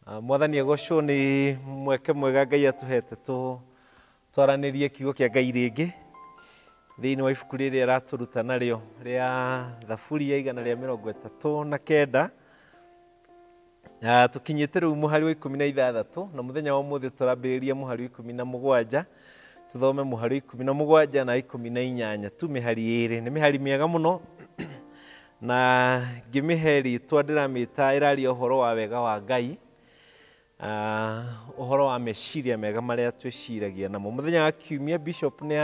Ah, mwathani agocwo nĩ mweke mwega ngai atũhete tũ- twaranĩrie kiugo kĩa ngai rĩngĩ thĩinĩ wa ibuku rĩrĩ aratũruta narĩo rĩa thaburi ya igana rĩa mĩrongo ĩtatũ na kenda Ah, tũkinyĩte rĩu mũhari wa ikũmi na ithathatũ na mũthenya wa ũmũthĩ tũrambĩrĩria mũhari wa ikũmi na mũgwanja tũthome mũhari wa ikũmi na mũgwanja na wa ikũmi na inyanya tu mĩhari ĩrĩ nĩ mĩhari mĩega mũno Na ngĩmĩhe rĩĩtwa ndĩramĩĩta ĩraaria ũhoro wa wega wa Ngai, ũhoro wa meciiria mega marĩa twĩciiragia namo. Mũthenya wa Kiumia Bishop nĩ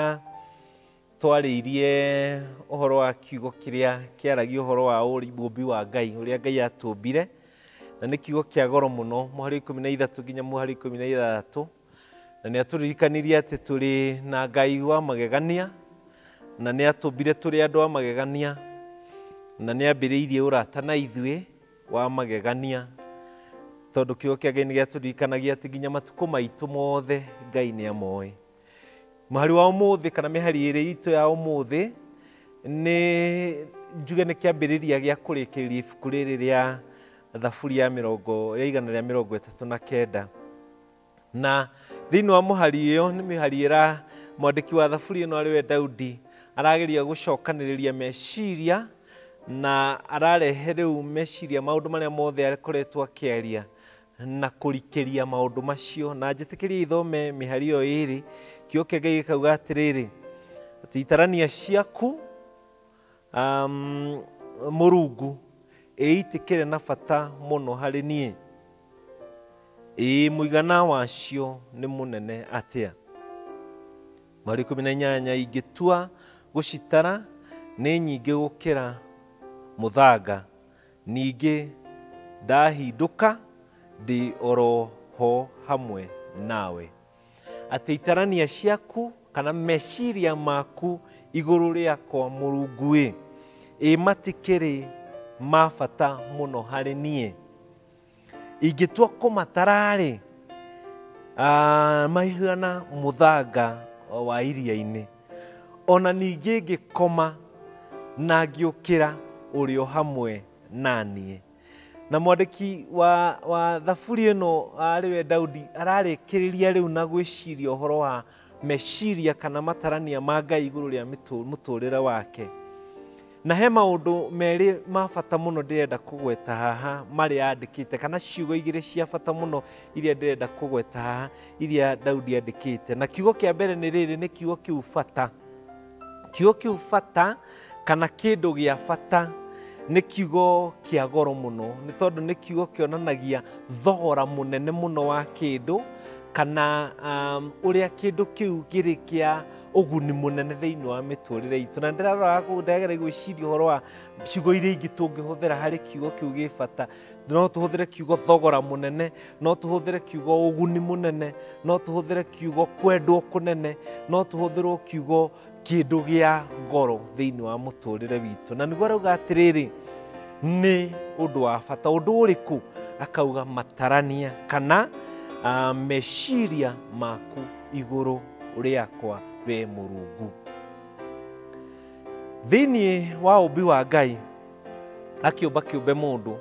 atwarĩirie ũhoro wa kiugo kĩrĩa kĩaragia ũhoro wa ũũmbi wa Ngai, ũrĩa Ngai atũũmbire, na nĩ kiugo kĩa goro mũno, mũhari wa ikũmi na ithatũ nginya mũhari wa ikũmi na ithathatũ. na nĩ atũririkanirie atĩ tũrĩ na ngai wa magegania na nĩ atũmbire tũrĩ andũ a magegania na nĩ ambĩrĩirie ũrata na ithuĩ wa magegania tondũ kiugo kĩa ngai nĩ gĩatũririkanagia atĩ nginya matukũ maitũ mothe ngai nĩ amoĩ mũhari wa ũmũthĩ kana mĩhari ĩrĩ itũ ya ũmũthĩ nĩ njuge nĩ kĩambĩrĩria gĩa kũrĩkĩrĩria ibuku rĩrĩ rĩa thaburi ya mĩrongo ya igana rĩa mĩrongo ĩtatũ na kenda Na thĩinĩ wa mũhari ĩyo nĩ mĩhari ĩra mwandĩki wa thaburi ĩno arĩwe Daudi arageria gũcokanĩrĩria meciria na ararehe rĩu meciria maũndũ marĩa mothe akoretwo akĩaria na kũrikĩria maũndũ macio na njĩtĩkĩria ithome mĩhari ĩyo ĩrĩ kĩo kĩa ngai gĩkauga atĩrĩrĩ atĩ itarania ciaku Um, mũrungu ĩitikĩre na bata mũno harĩ niĩ ĩĩ mũigana wacio nĩ mũnene atĩa mweri ikũmi na inyanya ingĩtua gũcitara nĩ nyingĩ gũkĩra mũthanga ningĩ ndahindũka ndĩ oro ho hamwe nawe atĩ itarania ciaku kana meciria maku igũrũ rĩakwa mũrunguĩ ĩ matikĩrĩ ma bata mũno harĩ niĩ ingĩtua kũmatararĩ ah, maihana mũthanga wa iria-inĩ ona ningĩ ngĩkoma na ngĩũkĩra ũrĩ o hamwe naniĩ Na mwandĩki wa, wa thaburi ĩno arĩ we Daudi ararĩkĩrĩria rĩu na gwĩciria ũhoro wa meciria kana matarania ma Ngai igũrũ rĩa mĩtũ- mũtũrĩre wake. Na he maũndũ merĩ ma bata mũno ndĩrenda kũgweta haha marĩa andĩkĩte kana ciugo igĩrĩ cia bata mũno iria ndĩrenda kũgweta haha iria Daudi andĩkĩte. Na kiugo kĩa mbere nĩ rĩrĩ, nĩ kiugo kĩu bata. Kiugo kĩu bata kana kĩndũ gĩa bata nĩ kiugo kĩa goro mũno nĩ tondũ nĩ kiugo kĩonanagia thogora mũnene mũno wa kĩndũ kana um, ũrĩa kĩndũ kĩu kĩrĩ kĩa ũguni mũnene thĩinĩ wa mĩtũrĩre itũ na ndĩrarora ndagera gwĩciria ũhoro wa ciugo iria ingĩ tũngĩhũthĩra harĩ kiugo kĩu gĩ bata no tũhũthĩre kiugo thogora mũnene no tũhũthĩre kiugo ũguni mũnene no tũhũthĩre kiugo kwendwo kũnene no tũhũthĩrwo kiugo kĩndũ gĩa goro thĩinĩ wa mũtũrĩre witũ na nĩguo arauga atĩrĩrĩ nĩ ũndũ wa bata ũndũ ũrĩkũ akauga matarania kana ah, meciria maku igũrũ rĩakwa we mũrungu thĩinĩ wa ũmbi wa ngai akĩũmba kĩũmbe mũndũ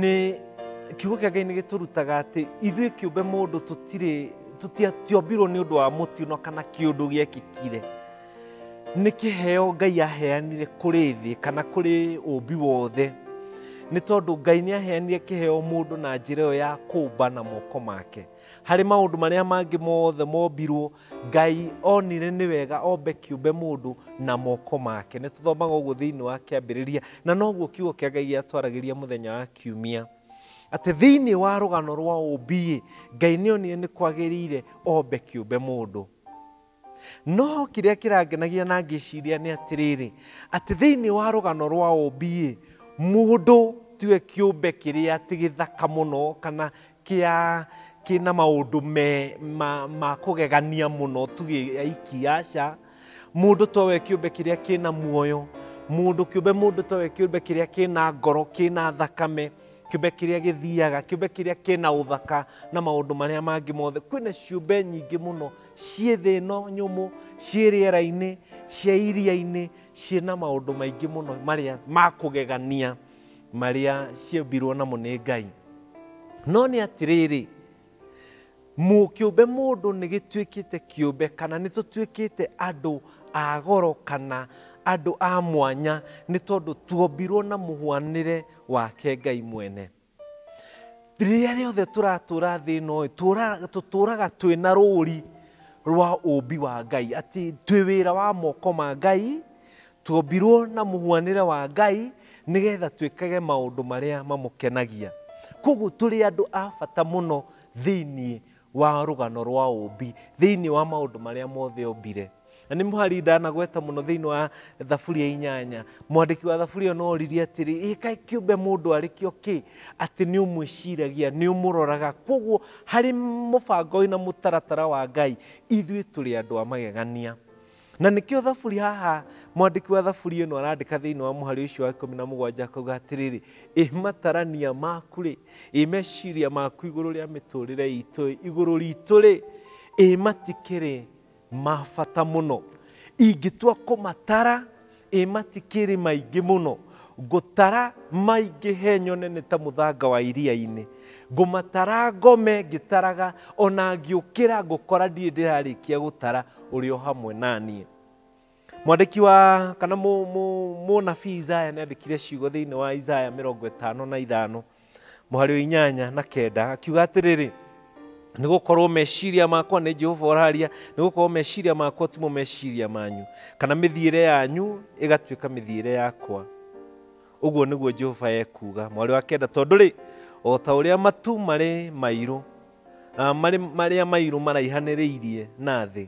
nĩ kiugo kĩa ngai nĩ gĩtũrutaga atĩ ithuĩ kĩũmbe mũndũ tũtirĩ tũtiatiombirwo nĩ ũndũ wa mũtino kana kĩũndũ gĩekĩkire nĩ kĩheo ngai aheanire kũrĩ thĩ kana kũrĩ ũmbi wothe nĩ tondũ ngai nĩ aheanire kĩheo mũndũ na njĩra ĩyo ya kũmba na moko make Harĩ maũndũ marĩa mangĩ mothe mombirwo, Ngai onire nĩ wega ombe kĩũmbe mũndũ na moko make. Nĩ tũthomaga ũguo thĩinĩ wa kĩambĩrĩria, na noguo kiugo kĩa Ngai gĩatwaragĩria mũthenya wa kiumia. Atĩ thĩinĩ wa rũgano rwa ũmbi-ĩ, Ngai nĩ onire nĩ kwagĩrĩire ombe kĩũmbe mũndũ. No kĩrĩa kĩrangenagia na ngĩciria nĩ atĩrĩrĩ, atĩ thĩinĩ wa rũgano rwa ũmbi-ĩ, mũndũ tiwe kĩũmbe kĩrĩa atĩ gĩthaka mũno kana kĩa kĩna maũndũ me ma, ma kũgegania mũno tu aiki, aca. Mũndũ towe kĩũmbe kĩrĩa kĩna muoyo, mũndũ kĩũmbe mũndũ towe kĩũmbe kĩrĩa kĩna ngoro, kĩna thakame, kĩũmbe kĩrĩa gĩthiaga, kĩũmbe kĩrĩa kĩna ũthaka na maũndũ marĩa mangĩ mothe. Kwĩna ciũmbe nyingĩ mũno. ciĩ thĩ ĩno nyũmũ ciĩ rĩera-inĩ ciĩ iria-inĩ ciĩ na maũndũ maingĩ mũno marĩa ma kũgegania marĩa ciũmbirwo namo nĩ ngai no nĩ atĩrĩrĩ mu- kĩũmbe mũndũ nĩ gĩtuĩkĩte kĩũmbe kana nĩ tũtuĩkĩte andũ a goro kana andũ a mwanya nĩ tondũ tuombirwo na mũhwanĩre wake ngai mwene Rĩrĩa rĩothe tũratũra thĩ ĩno ĩ, tũũra- tũtũũraga twĩ na rũũri rwa ũũmbi wa Ngai, atĩ twĩ wĩra wa moko ma Ngai, tuombirwo na mũhuanĩre wa Ngai, nĩgetha twĩkage maũndũ marĩa mamũkenagia. Kwoguo tũrĩ andũ a bata mũno thĩiniĩ wa rũgano rwa ũmbi thĩinĩ wa maũndũ marĩa mothe ombire na nĩ mũhari ndanagweta mũno thĩinĩ wa thaburi ya inyanya mwandĩki wa thaburi ĩyo no oririe atĩrĩ "Ĩ kaĩ kĩũmbe mũndũ arĩ kĩo kĩ atĩ nĩ ũmwĩciragia nĩ ũmũroraga kwoguo harĩ mũbango na mũtaratara wa ngai ithuĩ tũrĩ andũ a magegania Na nĩkĩo thaburi haha mwandĩki wa thaburi ĩno arandĩka thĩinĩ wa mũhari ũcio wa ikũmi na mũgwanja akauga atĩrĩrĩ ĩ matarania maku rĩ ĩ meciria maku igũrũ rĩa mĩtũrĩre itũ ĩ igũrũ ritũ rĩ ĩ matikĩrĩ ma bata mũno ingĩtua kũmatara Ĩ matikĩrĩ maingĩ mũno? Ngũtara maingĩhe nyone nĩ ta mũthanga wa iria-inĩ, ngũmatara ngome ngĩtaraga, o na ngĩũkĩra ngũkora ndirĩ ndĩrarĩkia gũtara ũrĩ o hamwe na niĩ. Mwandĩki wa kana mũnabii Isaya nĩ andĩkire ciugo thĩinĩ wa Isaya mĩrongo ĩtano na ithano mũhari wa inyanya na kenda akiuga atĩrĩrĩ nĩ gũkorwo meciria makwa nĩ jehova ũraria nĩ gũkorwo meciria makwa timo meciria manyu kana mĩthiĩre yanyu ĩgatuĩka mĩthiĩre yakwa ũguo nĩguo jehova ekuga mwarĩ wa kenda tondũ rĩ o ta ũrĩa matu marĩ mairũ ah, marĩ- marĩa mairũ maraihanĩrĩirie na thĩ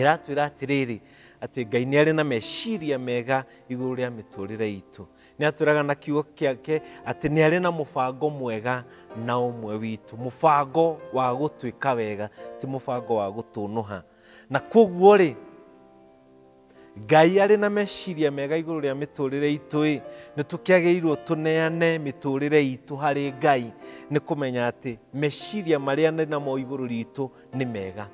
ĩratwĩra atĩrĩrĩ atĩ ngai nĩ arĩ na meciria mega igũrũ rĩa mĩtũrĩre itũ nĩ atwĩraga na kiugo kĩake atĩ nĩ arĩ na mũbango mwega na ũmwe witũ mũbango wa gũtwĩka wega ti mũbango wa gũtũnũha na kwoguo rĩ ngai arĩ na meciria mega igũrũ rĩa mĩtũrĩre itũ-ĩ nĩ tũkĩagĩrĩirwo tũneane mĩtũrĩre itũ harĩ ngai nĩ kũmenya atĩ meciria marĩa arĩ namo igũrũ ritũ nĩ mega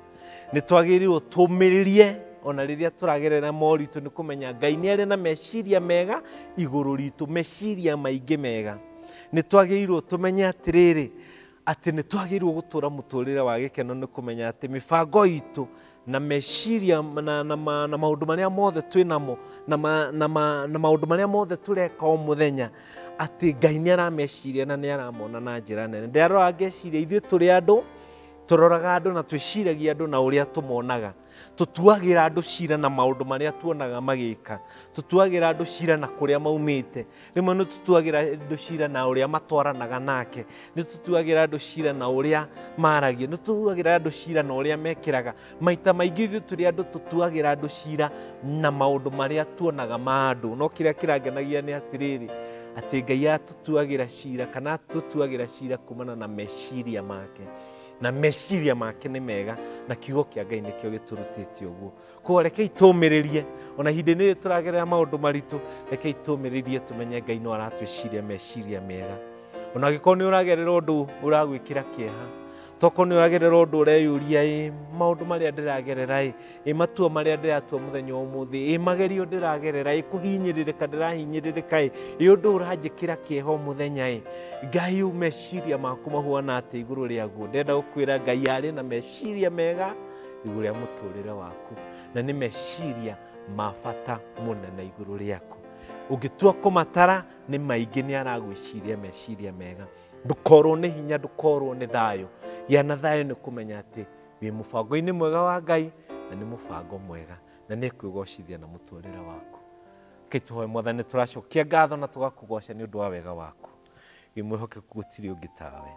nĩ twagĩrĩirwo tũmĩrĩrie ona rĩrĩa tũragerera moritũ nĩ kũmenya ngai nĩ arĩ na meciria mega igũrũ ritũ meciria maingĩ mega nĩ twagĩrĩirwo tũmenye atĩrĩrĩ atĩ nĩ twagĩrĩirwo gũtũra mũtũrĩre wa gĩkeno nĩ kũmenya atĩ mĩbango itũ na meciria na, na, ma, na maũndũ marĩa mothe twĩ namo na, ma, na, ma, na maũndũ marĩa mothe tũreka o mũthenya atĩ ngai nĩ arameciria na nĩ aramona na njĩra nene ndĩrarora ngeciria ithuĩ tũrĩ andũ tũroraga andũ na twĩciragia andũ na ũrĩa tũmonaga tũtuagĩra andũ cira na maũndũ marĩa tuonaga magĩka tũtuagĩra andũ cira na kũrĩa maumĩte rĩmwe nĩ tũtuagĩra andũ cira na ũrĩa matwaranaga nake nĩ tũtuagĩra andũ cira na ũrĩa maragia nĩ tũtuagĩra andũ cira na ũrĩa mekĩraga maita maingĩ ithuĩ tũrĩ andũ tũtuagĩra andũ cira na maũndũ marĩa tuonaga ma andũ no kĩrĩa kĩrangenagia nĩ atĩrĩrĩ atĩ ngai atũtuagĩra cira kana atũtuagĩra cira kumana na meciria make na meciria make nĩ mega na kiugo kĩa ngai nĩkĩo gĩtũrutĩtie ũguo koguo rekei tũmĩrĩrie ona ihinda-inĩ rĩrĩ tũragerera maũndũ maritũ rekei tũmĩrĩrie tũmenye ngai no aratwĩciria meciria mega ona angĩkorwo nĩ ũragerera ũndũ ũragwĩkĩra kĩeha tokorwo nĩ ũragerera ũndũ ũreyũria ĩ maũndũ marĩa ndĩragerera ĩ ĩ matua marĩa ndĩratua mũthenya wa ũmũthĩ ĩ magerio ndĩragerera ĩ kũhinyĩrĩrĩka ndĩrahinyĩrĩrĩka ĩ ĩ ũndũ ũranjĩkĩra kĩeha o mũthenya ĩ ngai ũ meciria maku mahuana atĩ igũrũ rĩaguo ndenda gũkwĩra ngai arĩ na meciria mega igũrũ rĩa mũtũrĩre waku na nĩ meciria ma bata mũnene igũrũ rĩaku ũngĩtua kũmatara nĩ maingĩ nĩ aragwĩciria meciria mega ndũkorwo nĩ hinya ndũkorwo nĩ thayũ gĩa na thayũ nĩ kũmenya atĩ wĩ mũbango-inĩ mwega wa ngai na nĩ mũbango mwega na nĩ kwĩgocithia na mũtũrĩre waku reke tũhoe mwathani tũracokia ngatho na tũgakũgoca nĩ ũndũ wa wega waku wĩ mwĩhokeku gũtirĩ ũngĩ tawe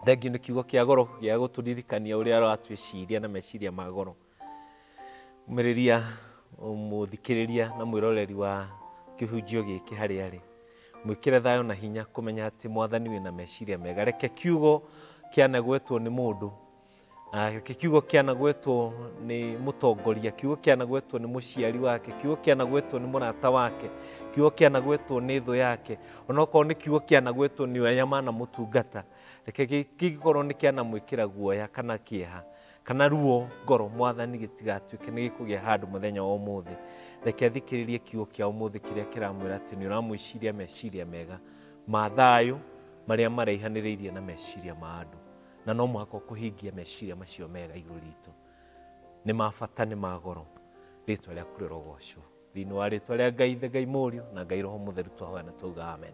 thengiũ nĩ kiugo kĩa goro gĩa gũtũririkania ũrĩa ũratwĩciria na meciria ma goro Umĩrĩria mũthikĩrĩria na mwĩroreri wa kĩhunjio gĩkĩ harĩa arĩ mwĩkĩre thayũ na hinya kũmenya atĩ mwathani wĩna meciria mega reke kiugo kĩanagwetwo nĩ mũndũ Ah, reke kiugo kĩanagwetwo nĩ mũtongoria kiugo kĩanagwetwo nĩ mũciari wake kiugo kĩanagwetwo nĩ mũrata wake kiugo kĩanagwetwo nĩ thũ yake onokorwo nĩ kiugo kĩanagwetwo nĩ arĩa manamũtungata reke gĩ- kĩngĩkorwo nĩ kĩanamwĩkĩra guoya kana kĩeha Kana ruo ngoro, Mwathani, gĩtigatuĩke nĩ gĩkũgĩa handũ mũthenya wa ũmũthĩ. Reke athikĩrĩrie kiugo kĩa ũmũthĩ kĩrĩa kĩramwĩra atĩ nĩ ũramwĩciria meciria mega ma thayũ marĩa maraihanĩrĩirie na meciria ma andũ. Na no mũhaka ũkũhingie meciria macio mega igũrũ ritũ. Nĩ ma bata, nĩ ma goro. Rĩtwa rĩaku rĩrogocwo. Thĩinĩ wa rĩtwa rĩa Ngai, the Ngai Mũriũ, na Ngai Roho Mũtheru twahoya na twauga amen.